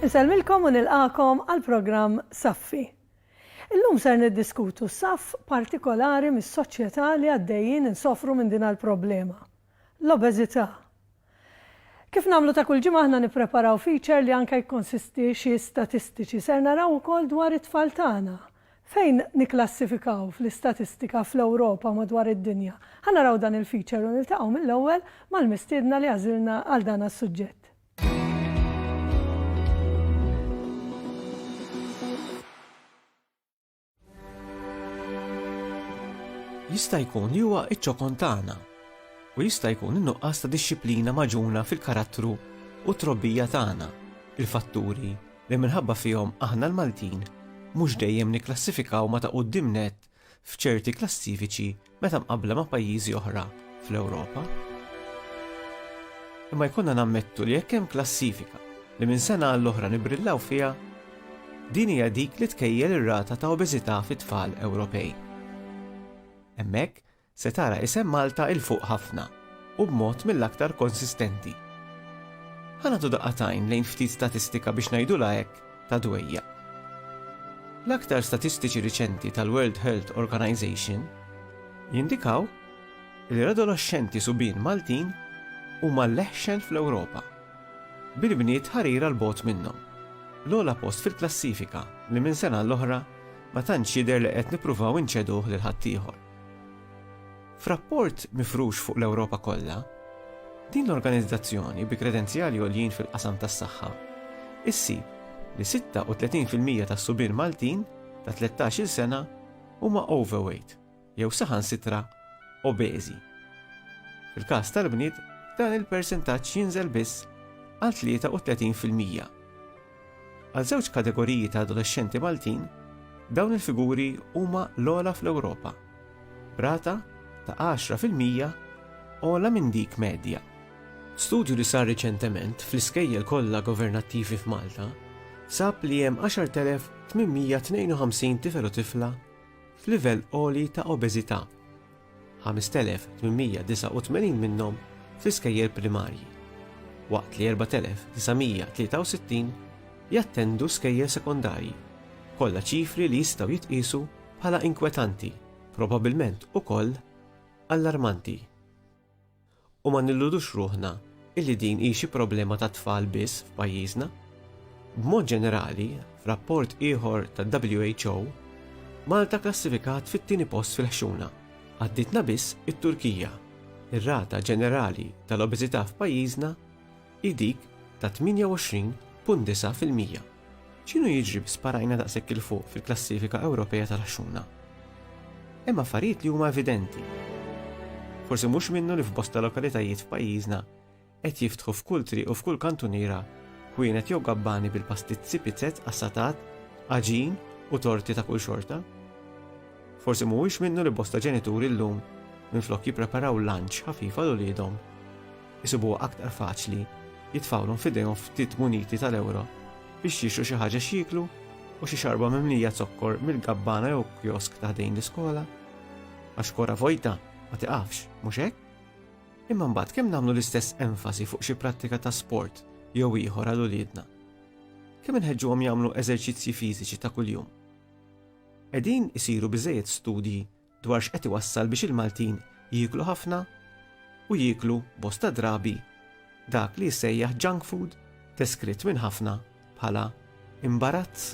Insellmilkom u nilqagħkom għall-programm Saffi. Illum ser niddiskutu saff partikolari mis-soċjetà li għaddejjin insofru minn din għall-problema. l-obeżità. Kif nagħmlu ta' kull ġimgħa aħna nippreparaw feature li anke jikkonsisti xi statistiċi. Ser naraw ukoll dwar it-tfal tagħna. Fejn nikklassifikaw fl-istatistika fl-Ewropa u madwar id-dinja? Ħa naraw dan il-feature u niltaqgħu mill-ewwel mal-mistiedna li għażilna għal dan as-suġġett. Jista' jkun li huwa iċ-ċokon tagħna u jista' jkun in-nuqqas ta' dixxiplina maġuna fil-karattru u t-trobbija tagħna, il-fatturi li minħabba fihom aħna l-Maltin mhux dejjem nikklassifikaw ma' ta' quddiem nett f'ċerti klassifiċi meta mqabbla ma' pajjiżi oħra fl-Ewropa. Imma jkollna nammettu li jekk hemm klassifika li minn sena għall-oħra nibrillaw fiha, din hija dik li tkejjel ir-rata ta' obeżità fit-tfal Ewropej. Hemmhekk se tara isem Malta 'il fuq ħafna u b'mod mill-aktar konsistenti. Ħa nagħtu daqqa t'għajn lejn ftit statistika biex ngħidulha hekk ta' dwejjaq. L-aktar statistiċi riċenti tal-World Health Organization jindikaw li l-adoloxxenti subien Maltin huma l-eħxen fl-Ewropa, bil-bniet ħarira 'l bogħod minnhom. L-ogħla post fil-klassifika li minn sena għall-oħra ma tantx jidher li qed nippruvaw inċeduh lil ħaddieħor. F'rapport mifrux fuq l-Ewropa kollha, din l-organizzazzjoni bi kredenzjali għoljin fil-qasam tas-saħħa ssib li 36 fil-mija tas-subien Maltin ta' tlettax-il sena huma overweight jew saħansitra obeżi. Fil-każ tal-bniet, dan il-persentaġġ jinżel biss għal 33 fil-mija. Għal żewġ kategoriji ta' adolexxenti Maltin, dawn il-figuri huma l-ogħla fl-Ewropa. b'rata ta' għaxra fil-mija ogħla minn dik medja. Studju li sar riċentement fl-iskejjel kollha governattivi f'Malta sab li hemm 10,852 tifel u tifla f'livell għoli ta' obeżità, 5,889 minnhom fl-iskejjel primarji, waqt li 4,963 jattendu skejjel sekondarji, kollha ċifri li jistgħu jitqiesu bħala inkwetanti, probabbilment ukoll allarmanti. U ma nilludux ruħna illi din hi xi problema tat-tfal biss f'pajjiżna. B'mod ġenerali, f'rapport ieħor tad-WHO, Malta klassifikat fit-tieni post fil-ħxuna. Għadditna biss it-Turkija. Ir-rata ġenerali tal-obeżità f'pajjiżna hi dik ta' 28.9 fil-mija. X'inhu jiġri bi sparajna daqshekk 'il fuq fil-klassifika Ewropea tal-għaxxuna? Hemm affarijiet li huma evidenti. Forsi mhux minnu li f'bosta lokalitajiet f'pajjiżna qed jiftħu f'kull triq u f'kull kantuniera ħwienet jew gabbani bil-pastizzi, pizzett, qassatat, għaġin u torti ta' kull xorta. Forsi mhuwiex minnu li bosta ġenituri llum, minflok jippreparaw lunch ħafif għal uliedhom, isibuha aktar faċli jitfgħulhom f'idejhom ftit muniti tal-ewro biex jixtru xi ħaġa x'jieklu u xi xarba mimlija zokkor mill-gabbana jew kjosk ta' ħdejn l-iskola. Għax kora vojta ma tiqafx, mhux hekk? Imma mbagħad kemm nagħmlu l-istess enfasi fuq xi prattika ta' sport jew ieħor għal uliedna? Kemm inħeġġuhom jagħmlu eżerċizzji fiżiċi ta' kuljum? Qegħdin isiru biżżejjed studji dwar x'qed iwassal biex il-Maltin jieklu ħafna u jieklu bosta drabi dak li jissejjaħ junk food deskritt minn ħafna bħala imbarazz?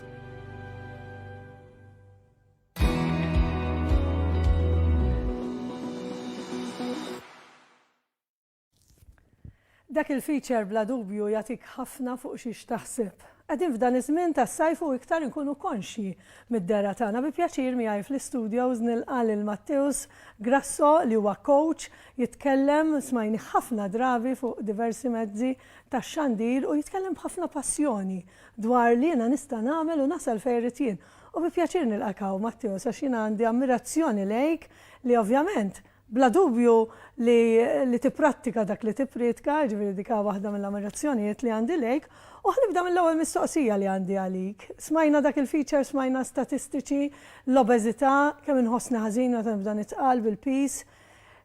Dak il-feature bla dubju jagħtik ħafna fuq xiex taħseb. Qegħdin f'dan iż-żmien tas-sajf u iktar inkunu konxji mid-dehra tagħna. Bi pjaċir miegħi fl-istudios nilqa' lil Matteus Grasso li huwa coach, jitkellem, smajnih ħafna drabi fuq diversi mezzi tax-xandir u jitkellem b'ħafna passjoni dwar li jiena nista' nagħmel u nasal fejn irrid jien. U bi pjaċir nilqak hawn Matteus għax jiena għandi ammirazzjoni lejk li ovvjament Bla dubju li li tipprattika dak li tipprietka, jiġifieri dik hi waħda mill-ammirazzjonijiet li għandi lejk. U ħa nibda mill-ewwel mistoqsija li għandi għalik. Smajna dak il-feature, smajna statistiċi, l-obeżità, kemm inħossni ħażin meta nibda nitqal bil-piż.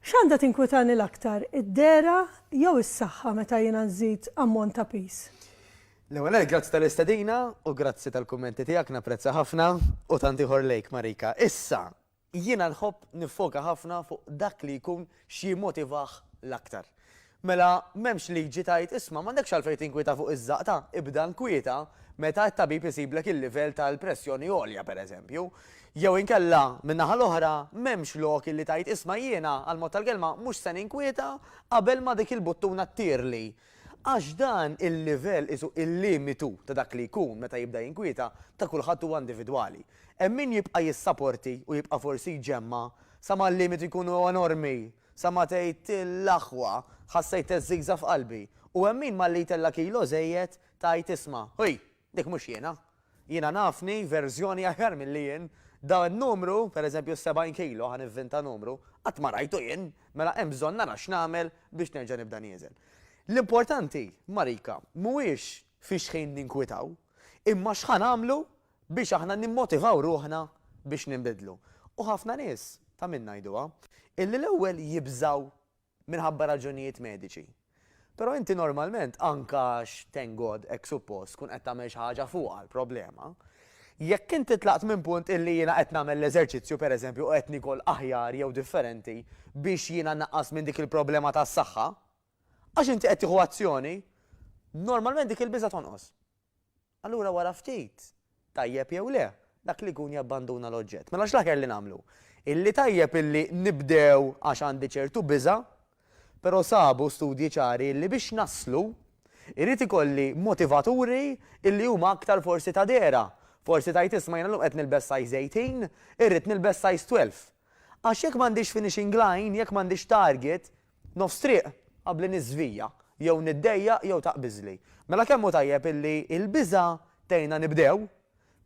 X'għandha tinkwitani l-aktar, id-dehra jew is-saħħa meta jiena nżid ammont ta' piż? L-ewwel nett grazzi tal-istedina u grazzi tal-kummenti tiegħek, napprezza ħafna, u tant ieħor lejk Marika. Issa, Jiena nħobb niffoka ħafna fuq dak li jkun x'jimmotivah l-aktar. Mela, m'hemmx liġi tgħid, isma', m'għandekx għalfejn tinkwieta fuq iż-żaqta, ibda nkwieta meta t-tabib isiblek il-livell tal-pressjoni għolja, pereżempju. Jew inkella, min-naħa l-oħra, m'hemmx lok illi tgħid, isma' jiena, għall-mod tal-kelma, mhux se ninkwieta qabel ma dik il-buttuna ttirli. Għax dan il-livell, qisu il-limitu ta' dak li jkun meta jibda jinkwieta, ta' kulħadd huwa individwali. Hemm min jibqa' jissaporti u jibqa' forsi jġemma' sa ma l-limitu jkunu enormi, sa ma tgħid l-aħwa, ħassejt teżżigża' f'qalbi, u hemm min malli jtella' kilo żejjed tgħid isma', ħuj, dik mhux jiena. Jiena nafni verżjoni aħjar milli jien. Dan n-numru, per eżempju s-70 kilo, ħa nivvinta numru, qatt ma rajtu jien, mela hemm bżonn nara x'nagħmel biex nerġa' nibda nieżen. L-importanti, Marika, mhuwiex fix-xħin ninkwitaw, imma x'ħa nagħmlu Biex aħna nimmotivaw ruħna biex ninbidlu. U ħafna nies, ta' min ngħiduha, illi l-ewwel jibżgħu minħabba raġunijiet mediċi. Però inti normalment, anke għax, thank God, hekk suppost, tkun qed tagħmel xi ħaġa fuqha l-problema. Jekk inti tlaqt minn punt illi jiena qed nagħmel l-eżerċizzju, per eżempju, u qed niekol aħjar jew differenti biex jiena nnaqqas minn dik il-problema tas-saħħa, għax inti qed tieħu azzjoni, normalment dik il-biża' tonqos. Allura wara ftit, tajjeb jew le, dak li jkun jabbanduna l-oġġett. Mela x'l-aħjar li nagħmlu? Illi tajjeb illi nibdew għax għandi ċertu biża', però sabu studji ċari illi biex naslu, irid ikolli motivaturi illi huma aktar forsi ta' dehra. Forsi tgħid isma' jiena llum qed nilbes size 18, irrid nilbes size 12. Għax jekk m'għandix finishing line, jekk m'għandix target, Nofs triq qabl li niżvija, jew niddejjaq jew taqbiżli. Mela kemm hu tajjeb illi l-biża' tgħinna nibdew,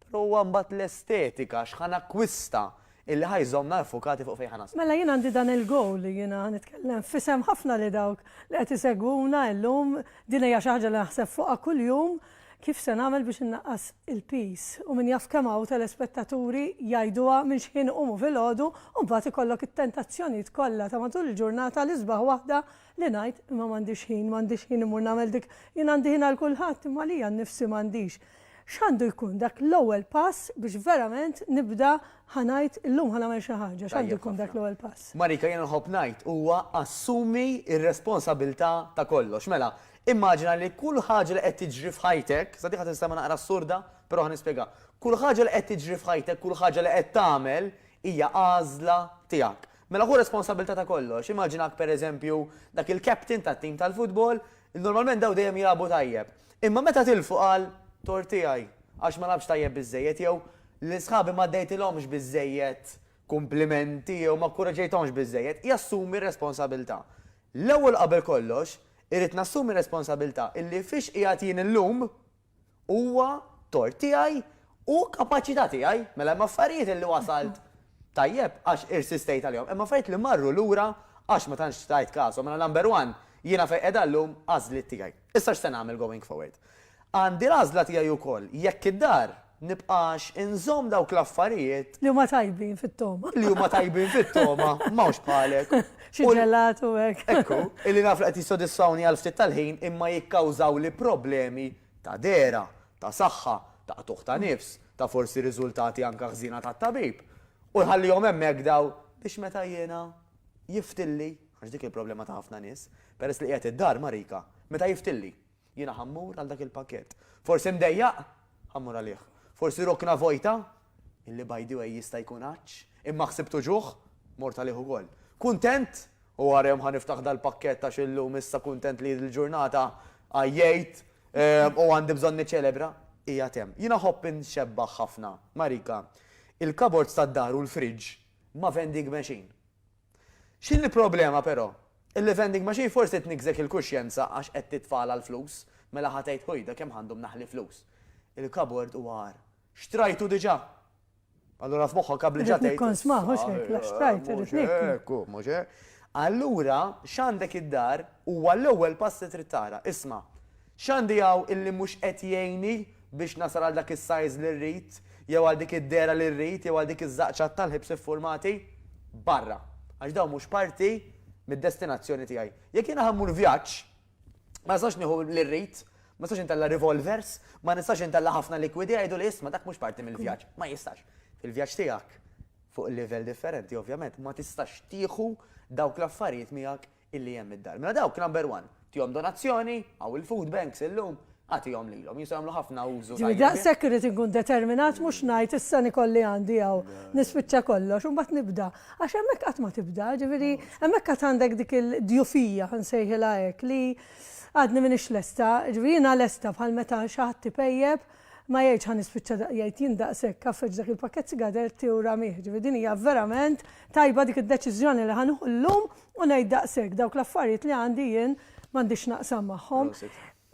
però huwa mbagħad l-estetika, x'ħa nakkwista, illi ħa jżommna iffukati fuq fejn ħa naslu. Mela jien għandi dan il-goal, jiena ħa nitkellem f'isem ħafna li dawk li qed isegwuna illum, din hija xi ħaġa li naħseb fuqha kuljum, Kif se nagħmel biex innaqqas il-piż? U min jaf kemm hawn telespettaturi jgħiduha minn x'ħin iqumu filgħodu u mbagħad ikollok it-tentazzjonijiet kollha ta' matul il-ġurnata l-isbaħ waħda li ngħid imma m'għandix ħin, m'għandix ħin immur nagħmel dik, jien għandi ħin għal kulħadd imma għalija nnifsi m'għandix. X'għandu jkun dak l-ewwel pass biex verament nibda ħa ngħid illum ħa nagħmel xi ħaġa, x'għandu jkun dak l-ewwel pass? Marika, jiena nħobb ngħid huwa assumi r-responsabilità ta' kollox. Mela, Immaġina li kull ħaġa li qed tiġri f'ħajtek, sa din ħa tinstema' naqra assurda, però ħa nispjegha, kull ħaġa li qed tiġri f'ħajtek, kull ħaġa li qed tagħmel hija għażla tiegħek. Mela ħu responsabbiltà ta' kollox. Immaġinak pereżempju dak il-captain tat-tim tal-futbol, normalment dawn dejjem jilagħbu tajjeb. Imma meta tilfu qal, tort tiegħi, għax ma lagħbtx tajjeb biżżejjed jew, lil sħabi ma għaddejtilhomx biżżejjed kumplimenti jew ma kkoraġġejthomx biżżejjed, jassumi r-responsabbiltà. L-ewwel qabel kollox, irrid nassumi r-responsabilità illi fiex qiegħed jien illum huwa tort tiegħi u kapaċità tiegħi. Mela hemm affarijiet illi wasalt tajjeb għax irsistejt għalihom. Hemm affarijiet li marru lura għax ma tantx tajt kashom. Mela number one, jiena fejn qiegħda llum għażliet tiegħi. Issa x'se nagħmel going forward? Għandi l-għażla tiegħi wkoll, jekk id-dar nibqax inżomm dawk l-affarijiet. Li huma tajbin fit-togħma. Li huma tajbin fit-togħma, m'hawnx bħalek. Xi ġelat u hekk. Ekku, illi naf li qed jissodisfawni għal ftit tal-ħin imma jikkawżawli problemi ta' dehra, ta' saħħa, ta' qtugħ ta' nifs, ta' forsi riżultati anke ħżiena tat-tabib. U nħallihom hemmhekk dawn biex meta jiena jiftilli Għax dik il-problema ta' ħafna nies. Peress li qiegħed id-dar, Marika, meta jiftilli? Jiena ħa mmur għal dak il-pakkett. Forsi mdejjaq? Ħa mmur għalih. Forsi rokna vojta? Illi by the way jista' jkun għatx, imma ħsibt uġugħ? Mort għalih ukoll. Kuntent? U wara jum ħa niftaħ dal-pakkett għax illum issa kuntent li l-ġurnata għajjejt u għandi bżonn niċċelebra? Qiegħed hemm. Jiena nħobb inxebbah ħafna, Marika, il-cupboards tad-dar u l-fridge ma' vending machine. X'inhi l-problema però? Il-vending machine forsi tniggżek il-kuxjenza għax qed titfagħalha l-flus, mela ħa tgħid ħujda kemm ħandhom naħli flus. Il-kabord huwa agħar. Xtrajtu diġà! Allura f'moħħok qabli ġa tgħid. Irrid nikkonsmaw, mhux hekk, la xtrajt, irrid niekkol. Mhux hekk hu, mhux hekk. Allura x'għandek id-dar huwa l-ewwel pass li trid tara. Isma', X'għandi hawn illi mhux qed jgħinni biex nasal għal dak is-sajż li rrid, jew għal dik id-dehra li rrid, jew għal dik iż-żaqċa tal-ħibs iffurmati? Barra! Għax dawn mhux parti mid-destinazzjoni tiegħi. Jekk jiena ħa mmur vjaġġ, ma nistax nieħu li rrid, ma nistax intella' revolvers, ma nistax intella' ħafna likwidi, jgħiduli isma' dak mhux parti mill-vjaġġ. Ma jistax. Fil-vjaġġ tiegħek, fuq livell differenti ovvjament, ma tistax tieħu dawk l-affarijiet miegħek illi hemm id-dar. Mela dawk number one, tihom donazzjoni, hawn il-food banks illum, agħtihom lilhom, jistgħu jagħmlu ħafna użu tajjeb. Daqshekk irrid inkun determinat mhux ngħid issa nikolli għandi hawn, nispiċċa kollox u mbagħad nibda. Għax hemmhekk qatt ma tibda, jiġifieri hemmhekk għad għandek dik il-djufija, ħa nsejħilha hekk, li għadni m'iniex lesta, jiġifieri jiena lesta bħal meta xi ħadd ipejjep, ma jgħidx ħa nispiċċa da, jgħid jien daqshekk għaffeġ dak il-pakkett sigaretti u ramih, jiġifieri din hija verament tajba dik id-deċiżjoni li ħa nieħu llum u ngħid daqshekk, dawk l-affarijiet li għandi jien m'għandix x'naqsam magħhom.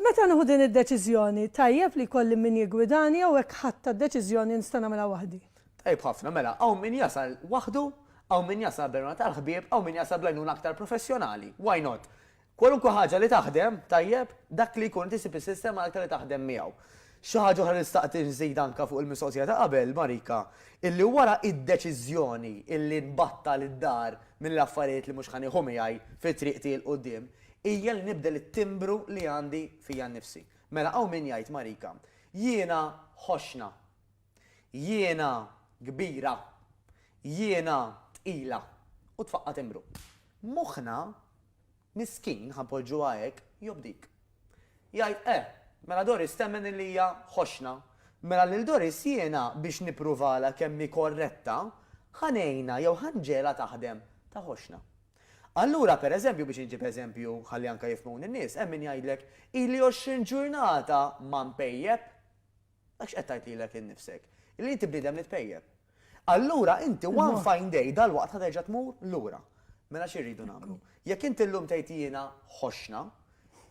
Meta nieħu din id-deċiżjoni, tajjeb li jkolli min jiggwidani jew hekk ħadtha d-deċiżjoni nista' nagħmilha waħdi? Tajjeb ħafna, mela hawn min jasal waħdu, hawn min jasal b'għenuna tal-ħbieb, hawn min jasal bl-għajnuna aktar professjonali. Why not? Kwalunkwe ħaġa li taħdem tajjeb, dak li jkun inti ssib is-sistema l-aktar li taħdem miegħu. Xi ħaġa oħra li xtaqt inżid anke fuq il-mistoqsija ta' qabel, Marika, illi wara d-deċiżjoni illi nbattal id-dar mill-affarijiet li mhux ħa nieħu miegħi fi triq tiegħi 'l quddiem, hija li nibdel it-timbru li għandi fija nnifsi. Mela hawn min jgħid, Marika, jiena ħoxna, jiena kbira, jiena tqila, u tfaqqa' timbru. Moħħna Miskin, ħa npoġġuha hekk, jobdik. Jgħid, Eh, mela Doris temmen illi hija ħoxna. Mela lil Doris jiena biex nippruvalha kemm hi korretta, ħa ngħinha jew ħa nġegħlha taħdem ta' ħoxna. Allura, per eżempju, biex inġib eżempju ħalli anke jifhmuni n-nies, hemm min jgħidlek, Ili għoxrin ġurnata ma npejjep. Dak x'qed tgħid lilek innifsek, li inti bniedem li tpejjep. Allura inti one fine day dalwaqt ħa terġa' tmur lura. Mela xi rridu nagħmlu? Jekk inti llum tgħid jiena ħoxna,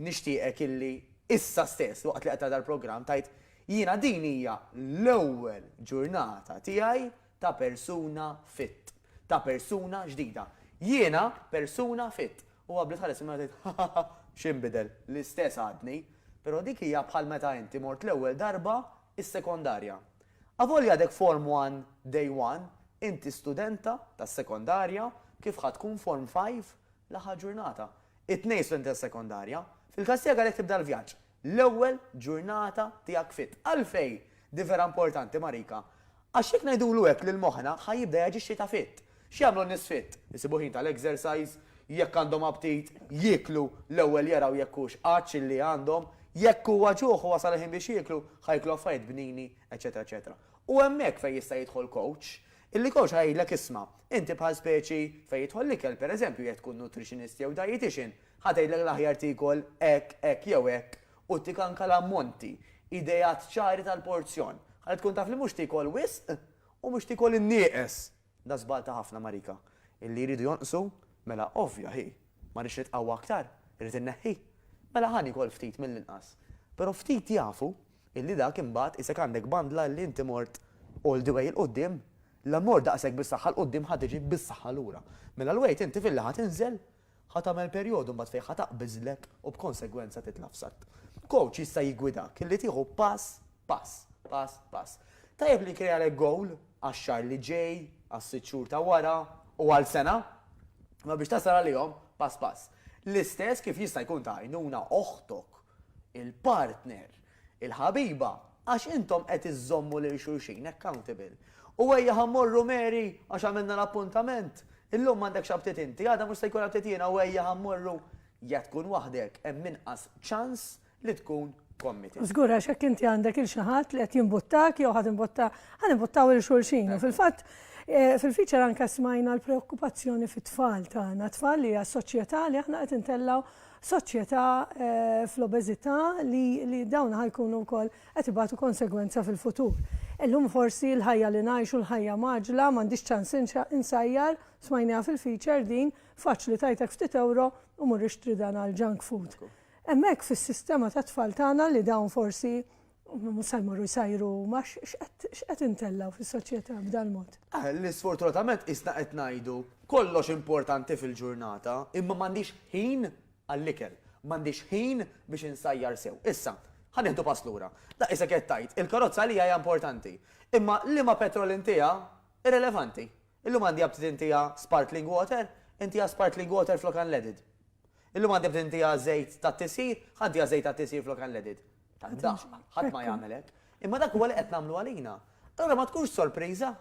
nixtieqek illi issa stess waqt li qed tara l-programm tgħid jiena din hija l-ewwel ġurnata tiegħi ta' persuna fit, ta' persuna ġdida. Jiena persuna fit. U qabli tħares il-mara tgħid, Ħaħaħa, x'inbidel, l-istess għadni. Però dik hija bħal meta inti mort l-ewwel darba is-sekondarja. Avolja għadek Form One, Day One, inti studenta tas-sekondarja kif ħa tkun Form Five l-aħħar ġurnata. It-tnejn studenti tas-sekondarja. Fil-każ tiegħek għalhekk tibda l-vjaġġ. L-ewwel ġurnata tiegħek fit. Għalfejn din vera importanti, Marika? Għax jekk ngħidulu hekk lil moħħna, ħa jibda jaġixxi ta' fit. X'jagħmlu n-nies fit? Isibu ħin tal-exercise, jekk għandhom aptit, jieklu, l-ewwel jaraw jekk hux għatx li għandhom, jekk huwa ġuħ u wasal il-ħin biex jieklu, ħa jieklu affarijiet bnini, eċċetera eċċetera. U hemmhekk fejn jista' jidħol coach, illi coach ħa jgħidlek isma', inti bħal speċi fejn jidħol l-ikel, pereżempju jekk tkun nutritionist jew dietician, Ħa tgħidlek l-aħjar tiekol hekk, hekk jew hekk u tik anke l-ammonti, ideat ċari tal-porzjon, ħalli tkun taf li mhux tiekol wisq u mhux tiekol in-nieqes. Da żball ta' ħafna marika. Illi jridu jonqsu? Mela ovvja hi. Ma rridx nitqawwa aktar? Irrid inneħħi? Mela ħa niekol ftit mill-inqas. Però ftit jafu illi dak imbagħad qisek għandek bandla illi inti mort all the way 'il quddiem. La mort daqshekk bis-saħħa 'l quddiem ħa tiġi bis-saħħa lura. Mela l-weight inti fil-li ħa tinżel Ħa tagħmel perjodu mbagħad fejn ħa taqbiżlek u b'konsegwenza titla' f'satt. Kowċ jista' jiggwidak li tieħu pass pass, pass pass. Tajjeb li jkrealek gowl għax-xahar li ġej, għas-sitt xhur ta' wara u għal sena. Imma biex tasal għalihom, pass pass. L-istess kif jista' jkun ta' għajnuna oħtok, il-partner, Il-ħabiba, għax intom qed iżżommu lil xulxin accountable. U ejja ħa mmorru Mary, għax għamilna l-appuntament. Illum m'għandekx aptit inti, għada mhux se jkun aptit jiena u ejja ħa mmorru. Jekk tkun waħdek, hemm inqas ċans li tkun committed. Żgur għax jekk inti għandek 'il xi ħadd li qed jimbuttak jew ħa timbutta, ħa nimbuttaw 'il xulxin. U fil-fatt, fil-feature anke smajna l-preokkupazzjoni fit-tfal tagħna, tfal li għas-soċjetà li aħna qed intellgħu soċjetà fl-obeżità li dawn ħa jkunu wkoll qed ibatu konsegwenza fil-futur. Illum forsi l-ħajja li ngħixu, l-ħajja mgħaġġla, m'għandix ċans insajjar, smajniha fil-feature din, faċli tgħidlek ftit ewro u mur ixtri dan għall-junk food. Hemmhekk fis-sistema tat-tfal tagħna li dawn forsi Mhux se jmorru jsajru huma, x'qed intellgħu fis-soċjetà b'dal-mod? Li sfortunatament qisna qed ngħidu kollox importanti fil-ġurnata, imma m'għandix ħin għall-ikel, m'għandix ħin biex insajjar sew. Issa, ħa nieħdu pass lura. La qisek qed tgħid, il-karozza għalija hija importanti, imma liema petrol intiha irrilevanti. Illum għandi aptit intiha sparkling water, intiha sparkling water flok unleaded. Illum għandi aptit intiha żejt tat-tisjir, ħa ntiha żejt tat-tisjir flok unleaded. Tandaq, ħadd ma jagħmel hekk. Imma dak huwa li qed nagħmlu għalina. Allura ma tkunx sorpriża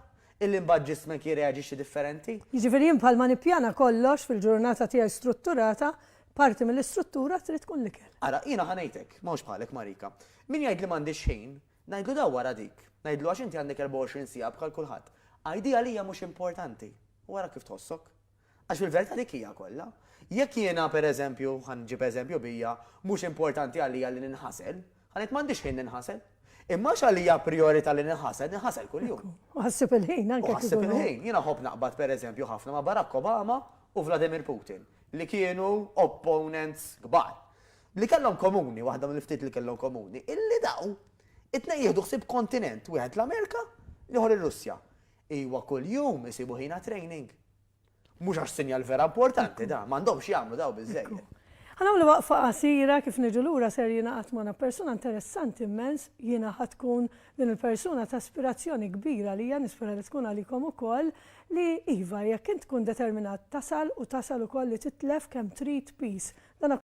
illi mbagħad ġismek jirreaġixxi differenti. Jiġifieri jien bħalma nippjana kollox fil-ġurnata tiegħi strutturata, parti mill-istruttura trid tkun l-ikel. Ara, jiena ħa ngħidlek, m'hawnx bħalek Marika. Min jgħidli m'għandix ħin, ngħidlu daw wara dik. Ngħidlu għax inti għandek 24 siegħa bħal kulħadd. Għidi għalija mhux importanti u ara kif tħossok. Għax fil-verità dik hija kollha. Jekk jiena, per eżempju, ħa nġib eżempju bija, mhux importanti għalija li ninħasel, ħa ngħid m'għandix ħin ninħasel. Imma għax għalija prijorità li ninħasel, ninħasel kuljum. U ħassib il-ħin anke. U ħassib il-ħin. Jiena nħobb naqbad per eżempju ħafna ma' Barack Obama u Vladimir Putin, li kienu opponents kbar. Li kellhom komuni, waħda mill-ftit li kellhom komuni, illi daw it-tnejn jieħdu ħsieb kontinent, wieħed l-Amerika, l-ieħor ir-Russja. Iwa kuljum isibu ħin għat-training. Mhux għax sinjal vera importanti dan, m'għandhomx jagħmlu dawn biżżejjed. Ħa nagħmlu waqfa qasira, kif niġu lura ser jingħaqad magħna persuna interessanti immens, jiena ħa tkun din il-persuna ta' ispirazzjoni kbira għalija, nispera li tkun għalikom ukoll, li iva jekk int tkun determinat tasal u tasal ukoll li titlef kemm trid peace.